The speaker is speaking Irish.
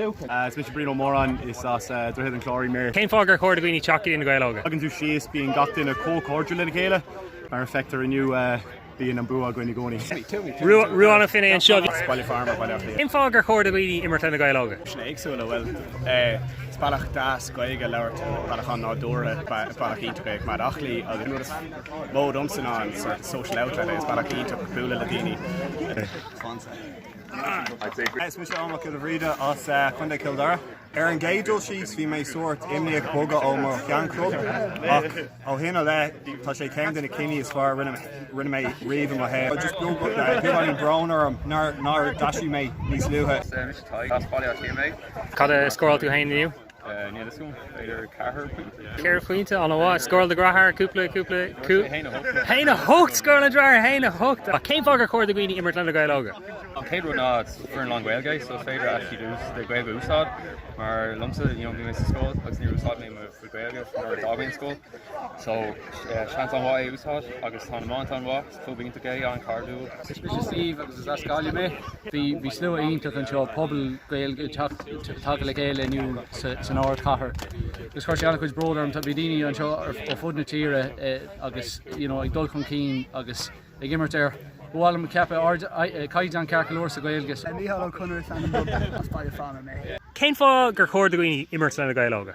Is mise Brian Ó Móráin is as Droichead an Chláir í mé. Cén fáth gur chóir do dhaoine teacht chuig Na Gaeil Óga? Tagann tú síos, bíonn gach duine chomh cairdiúil lena chéile. Mar a fheictear inniu, bíonn an bua againn i gcónaí. Ruadhán an Phinéin seo. Is as Baile Formaid mé, Baile Átha Cliath. Cén fáth gur chóir do dhaoine imirt leis Na Gaeil Óga? Sin éagsúil, bhuel, is bealach deas Gaeilge a labhairt, bealach an-nádúrtha, bealach iontach é coinneáil aclaí agus an rud is mó domsa ná an sort of social outlet é, is bealach iontach bualadh le daoine. Is mise Eoin Mac Giolla Bhríde as Contae Chill Dara. Ar an gcéad dul síos bhí mé sórt imníoch bogadh ó mo sheanchlub ach ó shin i leith tá sé ceann de na cinntí is fearr a rinne mé riamh i mo shaol. Just beag beagáinín bróin orm nár d'aistrigh mé níos luaithe. Cad a scóráil tú féin inniu? Níl fhios agam, b'fhéidir ceathair pointe? Ceithre phointe, an-mhaith. Scóráil do dheartháir, cúpla, cúpla, cú. Haon a hocht. Haon a hocht! Scóráil do dheartháir, haon a hocht! Cén fáth gur chóir do dhaoine imirt leis Na Gaeil Óga? An chéad rud ná foireann lán Gaeilge, so is féidir actually do chuid Gaeilge a úsáid mar liomsa you know bhí mé sa scoil agus níor úsáid mé mo chuid Gaeilge nuair a d'fhág mé an scoil, so eh, seans an-mhaith é a úsáid agus tá na maith an-mhaith. chomhaontaigh é, an-chairdiúil. Mise Steve agus is as Gaillimh mé. Bhí slua iontach anseo, pobal Gaeilge ag teacht tagtha le chéile inniu san ardchathair agus chuir sé an-chuid bróid orm. Bhí daoine anseo ar fud na tíre agus you know ag dul chun cinn agus ag imirt ar ba mhaith liom a cheapadh ardchaighdeán ceart go leor sa Ghaeilge. So. Mícheál Ó Conaire is ainm dom, as Baile Phána mé. Cén fáth gur chóir do dhaoine imirt leis Na Gaeil Óga?